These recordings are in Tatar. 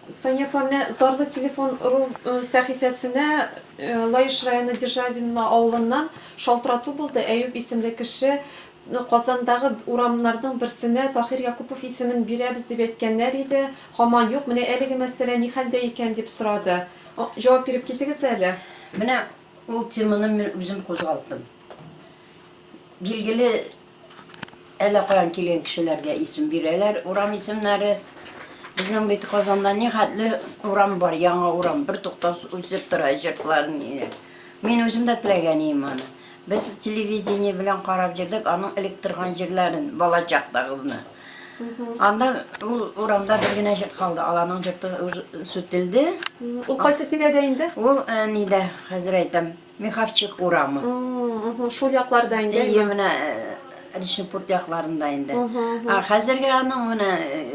Сания Панне Зарлы телефон ру сәхифәсенә Лаеш районы Державино авылыннан шалтырату булды. Әюп исемле кеше Казандагы урамнарның берсенә Таһир Якупов исемен бирәбез дип әйткәннәр иде, һаман юк, менә әлеге мәсьәлә ни хәлдә икән дип сорады. Җавап биреп китегез әле. Менә ул теманы мин үзем кузгалттым. Билгеле, Әллә каян килгән кешеләргә исем бирәләр, урам исемнәре. Безнең бит Казанда нихәтле урам бар, яңа урам, бертуктаусыз үсеп тора, җыртларын иде. Мин үзем дә теләгән идем аны. Без телевидение белән карап йөрдек аның элек торган җирләрен, балачактагыбызны. Анда ул урамда бер генә җырт калды, аларның җырты сүтелде. Ул кайсы тирәдә инде? Ул нидә, хәзер әйтәм. Михавчик урамы. Мм, шул якларда инде. Әйе, менә Ришнепурт якларында инде. Ә хәзергә аның менә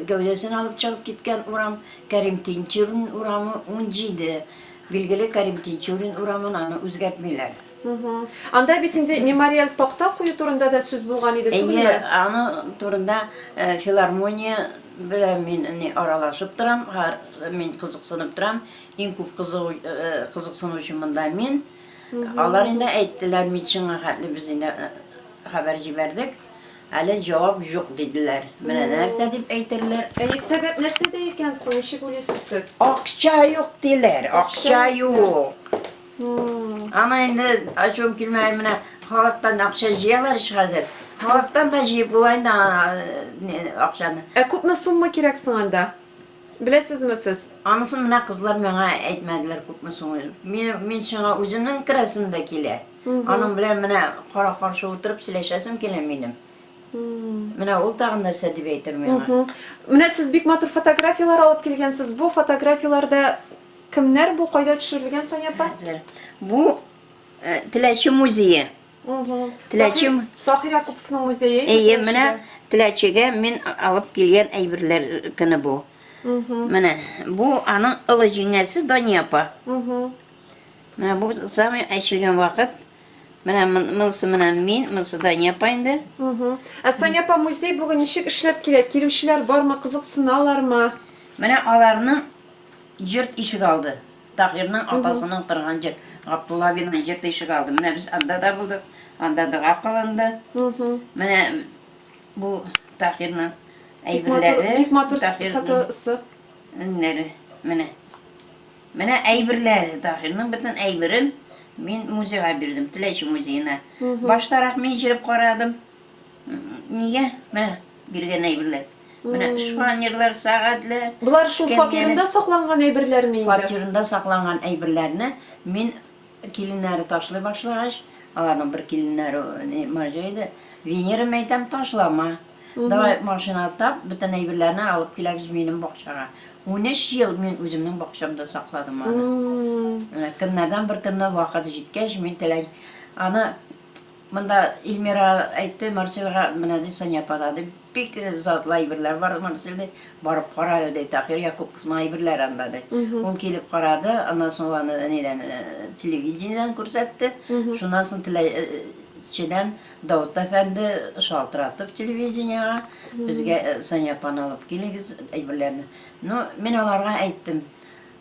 гәүдәсен алып чыгып киткән урам Кәрим Тинчурин урамы 17. Билгеле Кәрим Тинчурин урамын аны үзгәртмиләр. Анда бит инде мемориал такта кую турында да сүз булган иде, түгелме? Әйе, аны турында филармония белән мин аралашып торам, мин кызыксынып торам. Иң күп кызыгу, кызыксынучы монда мин. Алар инде әйттеләр, медицинага хәтле без инде хәбәр җибәрдек. Әле җавап юк диделәр. Менә нәрсә дип әйтерләр. Әйе, сәбәп нәрсәдә икән соң? Ничек уйлыйсыз сез? Акча юк диләр, акча юк. Ана инде ачуым килмәй менә халыктан акча җыялар ич хәзер. Халыктан да җыеп була инде акчаны. Ә күпме сумма кирәк соң анда? Беләсезме сез? Анысын менә кызлар миңа әйтмәделәр күпме соң ул. Мин сиңа үземнең керәсем дә килә. Аның белән менә кара-каршы утырып сөйләшәсем килә минем. Менә ул тагын нәрсә дип әйтер миңа. Менә сез бик матур фотографияләр алып килгәнсез. Бу фотографияләрдә кемнәр бу, кайда төшерелгән, Сания апа? Бу Теләче музее. Теләчем Сахир Якуповның музее. Әйе, менә Теләчегә мин алып килгән әйберләр көне бу. Менә бу аның олы җиңгәсе Дания апа. Менә бу самый әчелгән вакыт. Менә монысы менә мин, монысы Дания апа инде. Ә Соня апа музей бүген ничек эшләп килә? Килүчеләр бармы, кызыксыналармы? Менә аларның җырт ишек алды. Таһирның атасының торган җир, Габдулла абыйның җир тишеге алды. Менә без анда да булдык, анда дога кылынды. Менә бу Таһирның әйберләре. Бик матур фотосы. Нәре, менә. Менә әйберләре, Таһирның бөтен әйберен мин музейга бирдем, Теләче музеена. Баштарак мин җиреп карадым. Нигә? Менә биргән әйберләр. Менә шпанерлар, сәгатьләр. Болар шул фатирында сакланган әйберләрме инде? Фатирында сакланган әйберләрне мин киленнәре ташлый башлагач, аларның бер киленнәре марҗа иде. Венера мәйтәм ташлама. Давай машина тап, бөтен әйберләрне алып киләбез минем бакчага. 13 ел мин үземнең бакчамда сакладым аны. Көннәрдән бер көнне вакыты җиткәч, мин теләй аны Монда Ильмира әйтте, Марселга менә ди Сания апа да ди, бик затлы әйберләр бар, Марсел ди, барып кара әле ди, Таһир Якуповның әйберләре анда ди. Ул килеп карады, аннан соң ул аны нидән, телевидениедән күрсәтте, шуннан соң теләчедән Давыт әфәнде шалтыратып телевидениегә, безгә Сания апаны алып килегез, әйберләрне. Ну, мин аларга әйттем,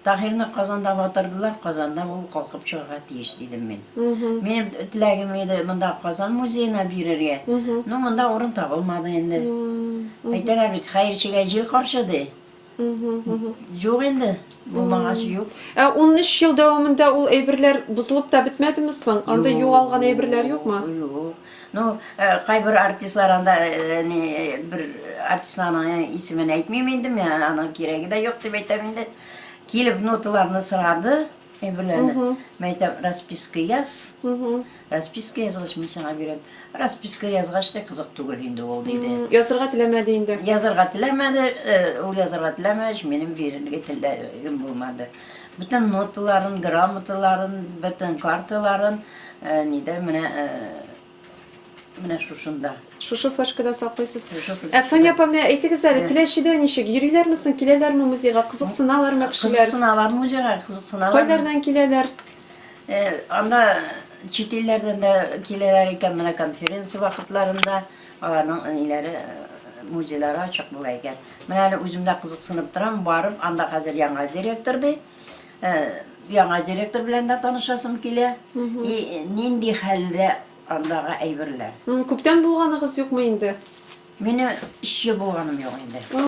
Таһирны Казанда батырдылар, Казанда ул калкып чыгарга тиеш, дидем мин. Минем теләгем иде монда Казан музеена бирергә. Ну, монда урын табылмады инде. Әйтәләр бит, хәерчегә җил каршы, ди. Юк инде, булмагач юк. Ә 13 ел дәвамында ул әйберләр бозылып та бетмәдеме соң? Анда югалган әйберләр юкмы? Юк. Ну, кайбер артистлар анда, ни, бер артистларның исемен әйтмим инде, мен аның кирәге дә юк дип әйтәм инде. Килеп ноталарны сорады, әйберләрне. Мен әйтәм, расписка яз. Расписка язгач, мин сиңа бирәм. Расписка язгач та кызык түгел инде ул диде. Язырга теләмәде инде. Язырга теләмәде, ул язырга теләмәгәч, минем бирергә теләгем булмады. Бөтен ноталарын, грамоталарын, бөтен карталарын нидә менә менә шушында. Шушы флешкада саклыйсыз. Ә Соня апа, менә әйтегез әле, Теләчедә ничек? Йөриләрме соң, киләләрме музейга? Кызыксыналармы кешеләр? Кызыксыналар музейга, кызыксыналар. Кайлардан киләләр? Анда чит илләрдән дә киләләр икән, менә конференция вакытларында. Аларның әниләре музейлары ачык була икән. Менә әле үзем дә кызыксынып торам, барып, анда хәзер яңа директор ди. Э, яңа директор белән дә танышасым килә. И нинди хәлдә андагы әйберләр. М, Күптән булганыгыз юкмы инде? Мине өч ел булганым юк инде.